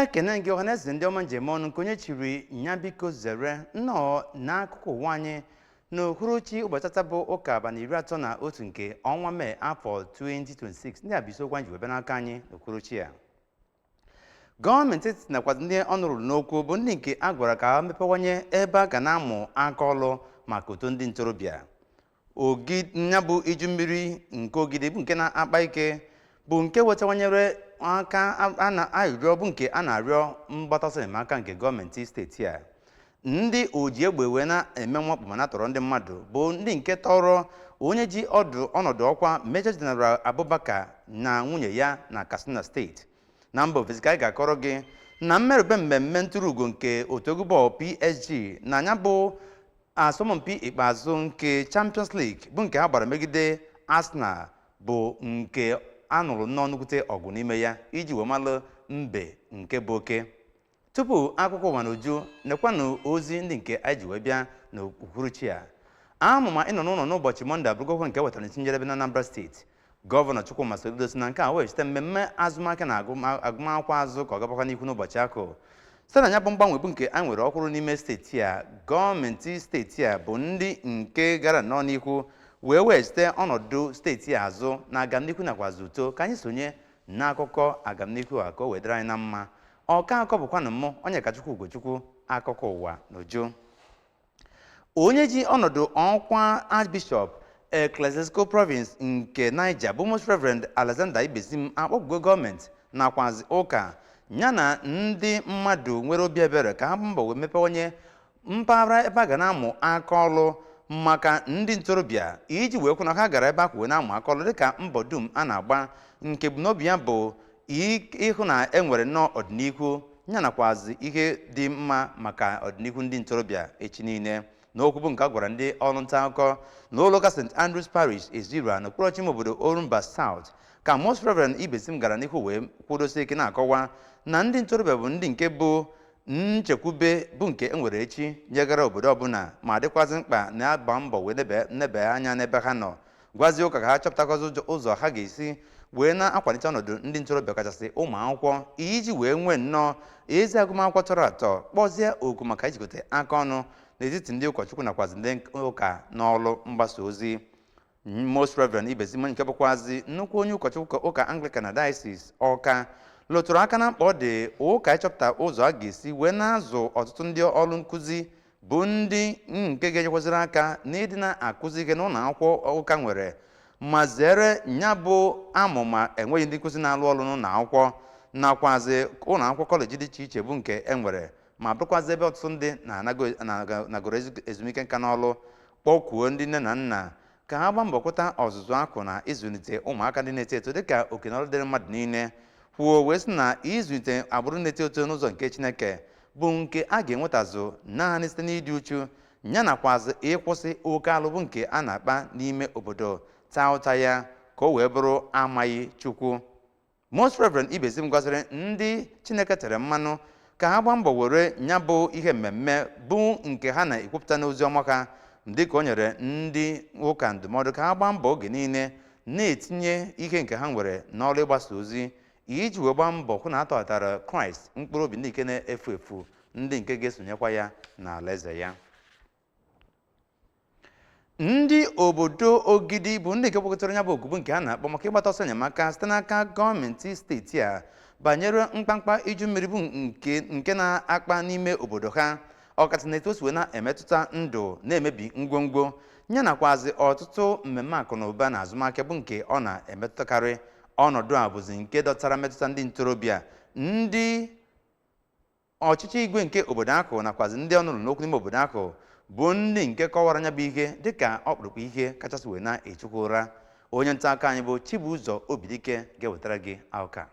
ekene gị ọhaneze ndị ọma ndewo nụ nke onye chiri nya biko zere nnọọ n'akụkọ ụwa anyị n'uhuruchi ụbọchị tata bụ ụka abalị iri atọ na otu nke ọnwa mee afọ 2026 ndị a bụ isiokwu anyị ji wee bịa n'aka anyị n'uhuruchi a gọọmenti etiti nakwa ndị ọnụ ruru n'okwu bụ ndị nke a gwara ka ha mepewanye ebe a ga na-amụ aka ọlụ maka uto ndị ntorobịa ogi nya bụ iju mmiri nke ogidi bụ nke na-akpa ike bụ nke wetawanyere aka arịrịọ bụ nke a na-arịọ mgbata ọsọ enyemaka nke gọọmenti steeti a ndị oji egbe wee na-eme mwakpo ma na-atọrọ ndị mmadụ bụ ndị nke tọrọ onye ji ọdụ ọnọdụ ọkwa Major General Abubakar na nwunye ya na Katsina steeti na mba ofesi ka anyị ga-akọrọ gị na mmerube mmemme nturu ugo nke otu egwu bọọlụ PSG na nya bụ asọmpi ikpeazụ nke Champions League bụ nke ha gbara megide Arsenal bụ nke a nụrụ nnọọ nnukwute ọgụ n'ime ya iji wee malụ mbe nke bụ oke Tupu akụkọ ụwa n'uju nekwanụ ozi ndị nke anyị ji wee bịa n'uhuruchi a amụma ịnọ n'ụlọ n'ụbọchị mọnde abụrụgokwa nke wetara n'isi njedebe n'Anambra steeti gọvanọ Chukwuma Soludo si na nke a wee site mmemme azụmahịa na agụmakwụkwọ azụ ka ọ gabakwa n'ihu n'ụbọchị ahụ site na ya bụ mgbanwe bụ nke a nwere ọhụrụ n'ime steeti a gọọmenti steeti a bụ ndị nke gara nnọọ n'ihu wee wee site ọnọdụ steeti a azụ na agamnihu nakwazi uto ka anyị sonye n'akụkọ agamnihu a ka o wee dịrị anyị na mma ọka akọ bụkwanụ mụ onyekachukwu ugochukwu akụkọ ụwa n'uju onye ji ọnọdụ ọkwa archbishop ecclesiastical province nke niger bụ most reverend alexander ibezim akpọkugo gọọmenti nakwazi ụka ya na ndị mmadụ nwere obi ebere ka ha gbaa mbọ wee mepewanye mpaghara ebe a ga na-amụ aka ọlụ maka ndị ntorobịa iji wee hụ na ha gara ebe ahụ wee na-amụ aka ọlụ dịka mbọ dum a na-agba nke ebumnobi ya bụ i- ịhụ na e nwere nnọọ ọdịnihu ya nakwazi ihe dị mma maka ọdịnihu ndị ntorobịa echi niile n'okwu bụ nke a gwara ndị ọrụ nta akụkọ na ụlọụka st andrews parish ezira na okpuru ọchịchị ime obodo orumba south ka most reverend ibezim gara n'ihu wee kwudosie ike na-akọwa na ndị ntorobịa bụ ndị nke bụ nchekwube bụ nke e nwere echi nyegara obodo ọbụla ma dịkwazị mkpa na-agba mbọ wee nebe anya n'ebe ha nọ gwazie ụka ka ha chọpụtakwazi ụzọ ha ga-esi wee na-akwalite ọnọdụ ndị ntorobịa kachasị ụmụ akwụkwọ iji wee nwee nnọọ ezi agụmakwụkwọ tọrọ atọ kpọzie oku maka ijikọta aka ọnụ n'etiti ndị ụkọchukwu nakwazi ndị ụka n'ọlụ mgbasa ozi Most Reverend Ibezim nke bụkwazi nnukwu onye ụkọchukwu ụka Anglican na Diocese Ọka lụtụrụ aka na mkpa ọ dị ụka ịchọpụta ụzọ a ga-esi wee na-azụ ọtụtụ ndị ọlụ nkụzi bụ ndị nke ga-enyekwaziri aka n'ịdị na-akụzi ihe n'ụlọ akwụkwọ ụka nwere ma zere ya bụ amụma enweghị ndị nkụzi na-alụ ọlụ n'ụlọ akwụkwọ nakwazi ụlọ akwụkwọ kọleji dị iche iche bụ nke e nwere ma bụrụkwazị ebe ọtụtụ ndị nagoro ezumike nka n'ọlụ kpọkuo ndị nne na nna ka ha gbaa mbọ hụta ọzụzụ ahụ na ịzụlite ụmụaka ndị na-eto eto dịka oke na ọlụ dịrị mmadụ niile kwuo wee sị na ịzụlite agbụrụ na-eto eto n'ụzọ nke Chineke bụ nke a ga-enwetazu naanị site n'ịdị uchu ya nakwazị ịkwụsị oke alụ bụ nke a na-akpa n'ime obodo taa ụta ya ka o wee bụrụ amaghị Chukwu Most Reverend Ibezim gwaziri ndị Chineke tere mmanụ ka ha gbaa mbọ were nya bụ ihe mmemme bụ nke ha na-ekwupụta n'ozi ọma ha dịka o nyere ndị ụka ndụmọdụ ka ha gbaa mbọ oge niile na-etinye ihe nke ha nwere n'ọlụ ịgbasa ozi iji wee gbaa mbọ hụ na a tọghatara Kraịst mkpụrụ obi ndị nke na-efu efu ndị nke ga-esonyekwa ya n'alaeze ya ndị obodo ogidi bụ ndị nke kpọkọtara nya bụ oku bụ nke a na-akpọ maka ịgbata ọsọ enyemaka site n'aka gọọmenti steeti a banyere mkpamkpa iju mmiri bụ nke na-akpa n'ime obodo ha ọkachasị na etu o si wee na-emetụta ndụ na-emebi ngwongwo ya nakwazi ọtụtụ mmemme akụ na ụba na azụmahịa bụ nke ọ na-emetụtakarị ọnọdụ a bụzi nke dọtara mmetụta ndị ntorobịa ndị ọchịchị igwe nke obodo ahụ nakwazi ndị ọnụ ru n'okwu n'ime obodo ahụ bụ ndị nke kọwara nya bụ ihe dịka ọkpụrụkpụ ihe kachasị wee na-echukwu ụra onye nta akụkọ anyị bụ Chibuzo Obidike ga-ewetara gị akụkọ a.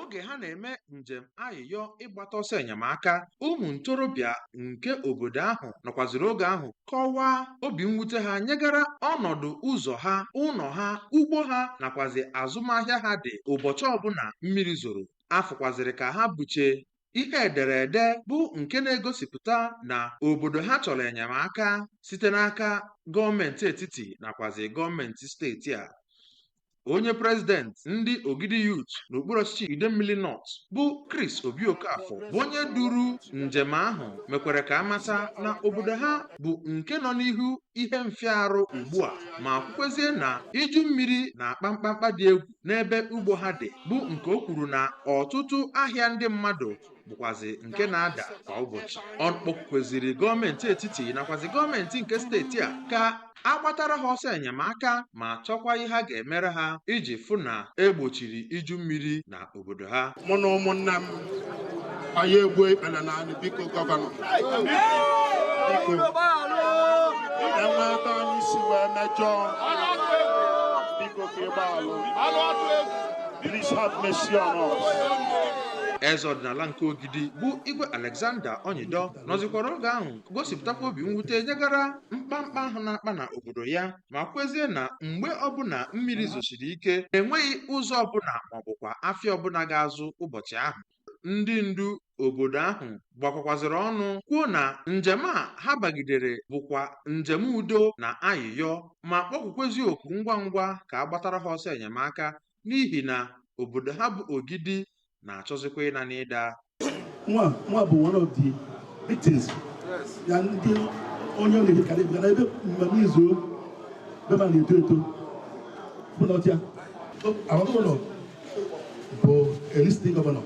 oge ha na-eme njem ayịyọ ịgbata ọsọ enyemaka ụmụ ntorobịa nke obodo ahụ nọkwaziri oge ahụ kọwaa obi mwute ha nyegara ọnọdụ ụzọ ha, ụlọ ha, ugbo ha nakwazị azụmahịa ha dị ụbọchị ọbụla mmiri zoro. A fụkwazịrị ka ha buche ihe ederede bụ nke na-egosipụta na obodo ha chọrọ enyemaka site n'aka gọọmenti etiti nakwazị gọọmenti steeti a. onye president ndị ogidi youth n'okpuru ọchịchị idemili north bụ chris obi okafọ bụ onye duru njem ahụ mekwara ka a mata na obodo ha bụ nke nọ n'ihu ihe mfịa arụ ugbu a ma kwukwezie na iju mmiri na-akpa mkpamkpa dị egwu n'ebe ugbo ha dị bụ nke o kwuru na ọtụtụ ahịa ndị mmadụ bụkwazi nke na-ada kwa ụbọchị ọ kpọkweziri gọọmenti etiti nakwazi gọọmenti nke steeti a ka a gbatara ha ọsọ enyemaka ma chọkwa ihe ha ga-emere ha iji fụ na egbochiri iju mmiri na obodo ha mụ na ụmụnna m anyị egbuo ikpere na anị biko gọvanọ biko e nwee ebe anyị si wee mejọọ biko ka ị gbaghalụ please have mercy on us eze ọdịnala nke ogidi bụ igwe alexander onyido nọzikwara oge ahụ gosipụtakwa obi mwute nyegara mkpamkpa ahụ na-akpa na obodo ya ma kwukwezie na mgbe ọbụla mmiri zosiri ike enweghị ụzọ ọbụla maọbụkwa afịa ọbụla ga-azụ ụbọchị ahụ ndị ndu obodo ahụ gbakọkwazịrị ọnụ kwuo na njem a ha bagidere bụkwa njem udo na ayịyọ ma kpọkwukwezi oku ngwa ngwa ka a gbatara ha ọsọ enyemaka n'ihi na obodo ha bụ Ogidi na-achọzikwa ịna n'iyi nwa nwa bụ one of the victims ya ndị onye na-ebi ka na-ebi na ebe mmemme izu be ma na-eto eto bụ na ọtịa our gọvanọ bụ a listening gọvanọ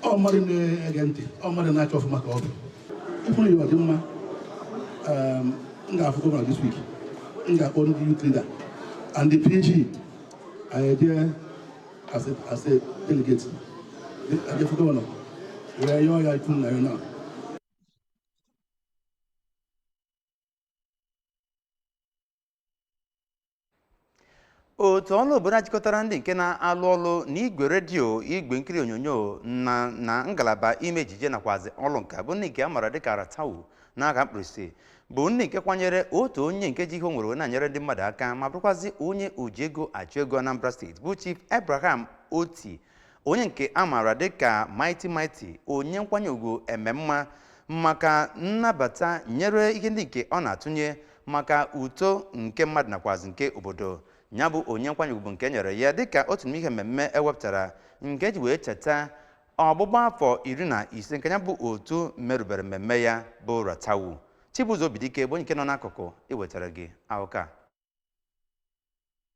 ọ mmadụ na-ege ntị ọ mmadụ na-achọ ọfụma ka ọ bụ ịfụrụ ya ọ dị mma um, m ga-afụ gọvanọ this week m ga-akpọ ndị youth leader and the PG I am here as a, as a delegate. a je fụ gọvanọ wee yọọ ya ikpele n'ana. otu ọrụ obodo a jikọtara ndị nke na-alụ ọrụ n'igwe redio igwe nkiri onyonyo na na ngalaba ime ejije nakwazi ọrụ nka bụ ndị nke a maara dịka ratawu n'aka mkpirisi bụ ndị nke kwanyere otu onye nke ji ihe o nwere wee na-enyere ndị mmadụ aka ma bụrụkwazi onye oji ego achụ ego Anambra steeti bụ Chief Abraham Oti onye nke a maara dịka Mighty Mighty onyinye nkwanye ugwu ememma maka nnabata nyere ihe ndị nke ọ na-atụnye maka uto nke mmadụ nakwazi nke obodo ya bụ onyinye nkwanye ugwu bụ nke e nyere ya dịka otu n'ime ihe mmemme e wepụtara nke e ji wee cheta ọgbụgba afọ iri na ise nke ya bụ otu merubere mmemme ya bụ ratawu chibuzo obidike bụ onye nke nọ n'akụkụ iwetara gị akụkọ a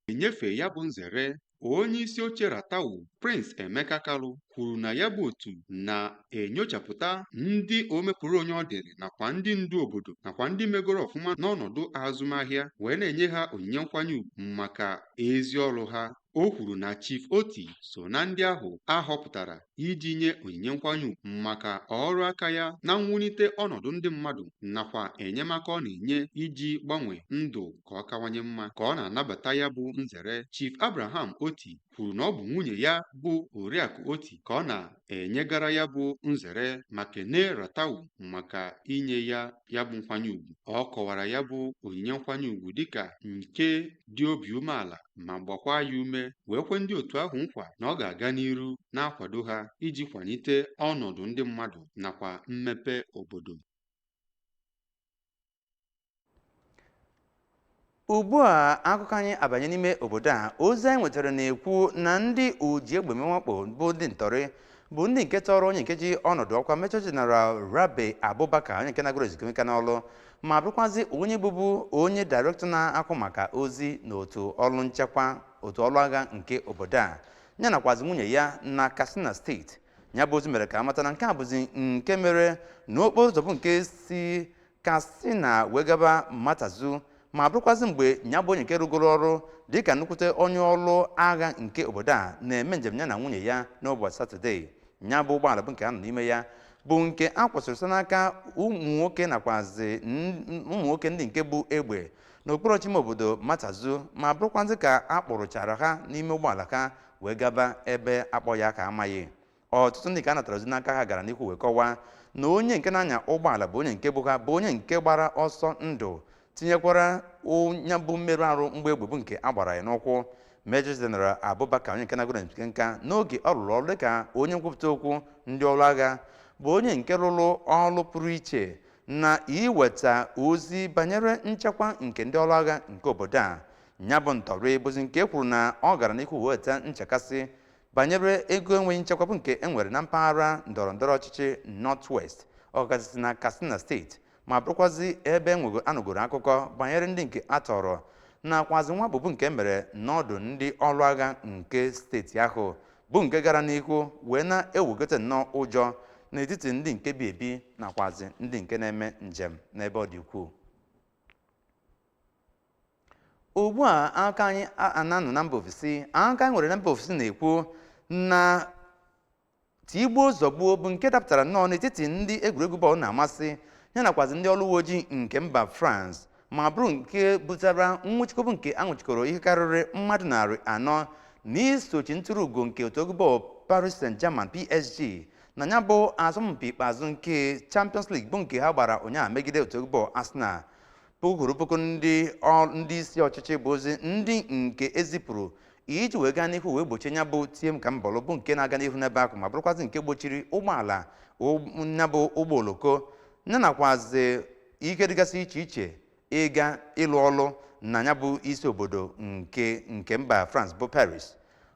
enyefe ya bụ nzere onye isi oche ratawu prince emeka kalu kwuru na ya bụ otu na-enyochapụta ndị omepụrụ onye ọ dịrị nakwa ndị ndu obodo nakwa ndị megoro ọfụma n'ọnọdụ azụmahịa wee na-enye ha onyinye nkwanye ugwu maka ezi ọrụ ha O kwuru na Chief Oti so na ndị ahụ a họpụtara iji nye onyinye nkwanye ugwu maka ọrụ aka ya na mwulite ọnọdụ ndị mmadụ nakwa enyemaka ọ na-enye iji gbanwee ndụ ka ọ kawanye mma. Ka ọ na-anabata ya bụ nzere, Chief Abraham Oti kwuru na ọ bụ nwunye ya bụ Oriakụ Oti ka ọ na enyegara ya bụ nzere ma kenee RATTAWU maka inye ya ya bụ nkwanye ugwu ọ kọwara ya bụ onyinye nkwanye ugwu dịka nke dị obi umeala ma gbakwa ya ume wee kwe ndị otu ahụ nkwa na ọ ga-aga n'iru na-akwado ha iji kwalite ọnọdụ ndị mmadụ nakwa mmepe obodo ugbu a akụkọ anyị abanye n'ime obodo a ozi anyị nwetara na-ekwu na ndị oji egbe mwakpo bụ ndị ntọrị bụ ndị nke tọrọ onye nke ji ọnọdụ ọkwa Major General rabe abubakar onye nke nagoro ezumike nka n'ọlụ ma bụrụkwazi onye bụbu onye dairektọ na-ahụ maka ozi na otu ọrụ nchekwa otu ọrụ agha nke obodo a ya nakwazi nwunye ya na katsina steeti ya bụ ozi mere ka a mata na nke a bụzi nke mere na okporo ụzọ bụ nke si katsina wee gaba matazu ma bụrụkwazị mgbe ya bụ onye nke rụgoro ọrụ dịka nnukwute onye ọrụ agha nke obodo a na-eme njem ya na nwunye ya n'ụbọchị satọdee ya bụ ụgbọala bụ nke ha nọ n'ime ya bụ nke a kwụsịrị site n'aka ụmụ nwoke nakwazi n- ụmụ nwoke ndị nke bu egbe n'okpuru ọchịchị ime obodo matazu ma bụrụkwazị ka a kpụrụchara ha n'ime ụgbọala ha wee gaba ebe akpọ ya ka amaghị ọtụtụ ndị nke a natara ozi n'aka ha gara n'ihu wee kọwaa na onye nke na-anya ụgbọala bụ onye nke bu ha bụ onye nke gbara ọsọ ndụ tinyekwara nya bụ mmerụ arụ mgbọ egbe bụ nke a gbara ya n'ụkwụ Major General Abubakar onye nke nagoro ezumike nka n'oge ọ rụrụ ọrụ dịka onye nkwupụta okwu ndị ọrụ agha bụ onye nke rụrụ ọrụ pụrụ iche na iweta ozi banyere nchekwa nke ndị ọrụ agha nke obodo a ya bụ ntọrị bụzi nke kwuru na ọ gara n'ihu weta nchekasị banyere egwu enweghị nchekwa bụ nke e nwere na mpaghara ndọrọ ndọrọ ọchịchị North-West ọkachasị na Katsina steeti ma bụrụkwazi ebe enwego anụgoro akụkọ banyere ndị nke a tọrọ nakwazi mwakpo bụ nke mere n'ọdụ ndị ọrụ agha nke steeti ahụ bụ nke gara n'ihu wee na-ewegota nnọọ ụjọ n'etiti ndị nke bi ebi nakwazi ndị nke na-eme njem n'ebe ọ dị ukwuu ugbu a aka anyị a- a na-anọ na mba ofesi aka anyị nwere na mba ofesi na-ekwu na tigbuo zọgbuo bụ nke dapụtara nnọọ n'etiti ndị egwuregwu bọọlụ na-amasị ya nakwazi ndị ọrụ uwe ojii nke mba France ma bụrụ nke butara nwụchikọ bụ nke a nwụchikọrọ ihe karịrị mmadụ narị anọ n'isochi ntụrụ ugo nke otu egwu bọọlụ Paris Saint-Germain PSG na ya bụ asọmpi ikpeazụ nke Champions League bụ nke ha gbara ụnyaahụ megide otu egwu bọọlụ Arsenal puku kwuru puku ndị ọ- ndị isi ọchịchị bụzi ndị nke e zipụrụ iji wee gaa n'ihu wee gbochie nya bụ tie m ka m bọlụ bụ nke na-aga n'ihu n'ebe ahụ ma bụrụkwazị nke gbochiri ụgbọala ụg- nya bụ ụgbọ oloko ya nakwazi ihe dịgasị iche iche ịga ịlụ ọlụ na nya bụ isi obodo nke nke mba France bụ Paris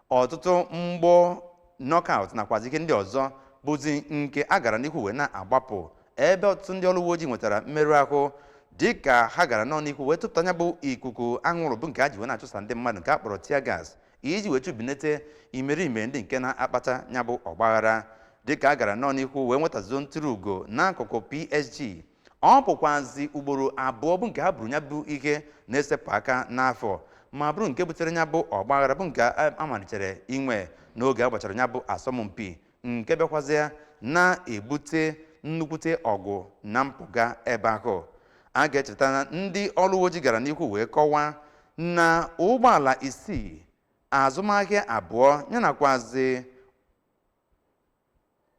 ọtụtụ mgbọ knockout nakwazi ihe ndị ọzọ bụzi nke a gara n'ihu wee na-agbapụ ebe ọtụtụ ndị ọrụ uwe ojii nwetara mmerụ ahụ dịka ha gara nọ n'ihu wee tụpụta ya bụ ikuku anwụrụ bụ nke a ji wee na-achụsa ndị mmadụ nke a kpọrọ tear gas iji wee chụbinete imerime ndị nke na-akpata ya bụ ọgbaghara dịka a gara nọ n'ihu wee nwetazuo ntụrụ ugo n'akụkụ PSG ọ bụkwazi ugboro abụọ bụ nke ha buru ya bụ ihe na-esepụ aka n'afọ ma bụrụ nke butere ya bụ ọgbaghara bụ nke a malitere inwe n'oge a gbachara ya bụ asọmpi nke bịakwazie na-ebute nnukwute ọgụ na mpụga ebe ahụ a ga-echeta na ndị ọrụ uwe ojii gara n'ihu wee kọwaa na ụgbọala isii azụmahịa abụọ ya nakwazi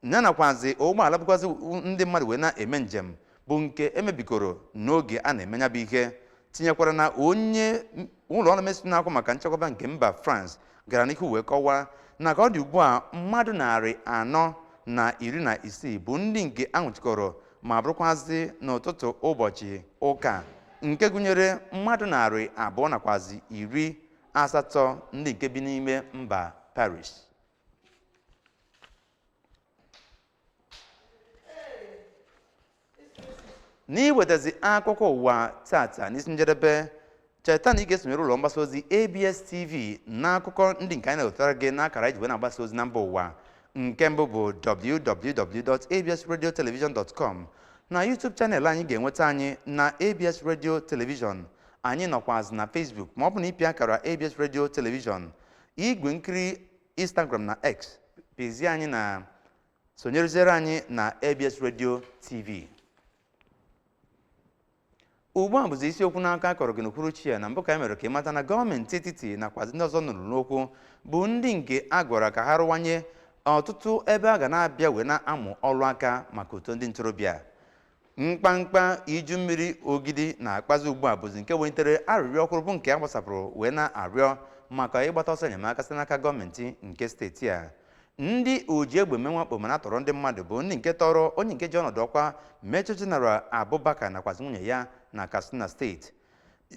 ya nakwazi ụgbọala bukwazi ndị mmadụ wee na-eme njem bụ nke e mebikọrọ n'oge a na-eme ya bụ ihe tinyekwara na onye ụlọ ọrụ ministry na-ahụ maka nchekwaba nke mba France gara n'ihu wee kọwaa na ka ọ dị ugbu a mmadụ narị anọ na iri na isii bụ ndị nke a nwụchikọrọ ma bụrụkwazị n'ụtụtụ ụbọchị ụka nke gụnyere mmadụ narị abụọ nakwazi iri asatọ ndị nke bi n'ime mba Paris n'iwetazi akụkọ ụwa tata n'isi njedebe cheta na ị ga-esonyere ụlọ mgbasa ozi abs tv n'akụkọ ndị nke anyị na-ewetara gị n'akara iji wee na-agbasa ozi na mba ụwa nke mbụ bụ www.absradiotelevision.com na youtube channel anyị ga-enweta anyị na abs radio television anyị nọkwazị na facebook ma ọ bụ na ịpịa akara abs radio television igwe nkiri instagram na x pezie anyị na sonyereziere anyị na abs radio tv ugbu a bụzi isiokwu n'aka a kọrọ gị n'uhuruchi a na mbụ ka anyị mere ka ị mata na gọọmenti etiti nakwa ndị ọzọ ọnụ ruru n'okwu bụ ndị nke a gwara ka ha rụwanye ọtụtụ ebe a ga na-abịa wee na-amụ ọrụ aka maka uto ndị ntorobịa mkpamkpa iju mmiri ogidi na-akpazi ugbu a bụzi nke welitere arịrịọ ọhụrụ bụ nke a gbasapụrụ wee na-arịọ maka ịgbata ọsọ enyemaka site n'aka gọọmenti nke steeti a ndị oji egbe eme mwakpo ma na-atọrọ ndị mmadụ bụ ndị nke tọrọ onye nke ji ọnọdụ ọkwa Major General Abubakar nakwazi nwunye ya na Katsina steeti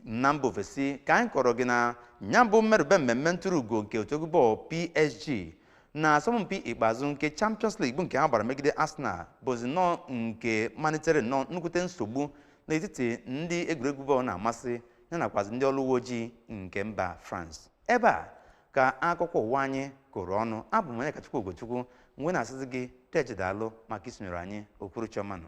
na mba ofesi ka anyị kọrọ gị na ya bụ mmerube mmemme ntụrụ ugo nke otu egwu bọọlụ PSG n'asọmpi ikpeazụ nke Champions League bụ nke ha gbara megide Arsenal bụzi nnọọ nke malitere nnọọ nnukwute nsogbu n'etiti ndị egwuregwu bọọlụ na-amasị ya nakwazi ndị ọrụ uwe ojii nke mba France ebe a ka akụkọ ụwa anyị kụrụ ọnụ abụ m Onyekachukwu Ogochukwu m wee na-asịzi gị deje daalụ maka isonyere anyị uhuruchi ọma nụ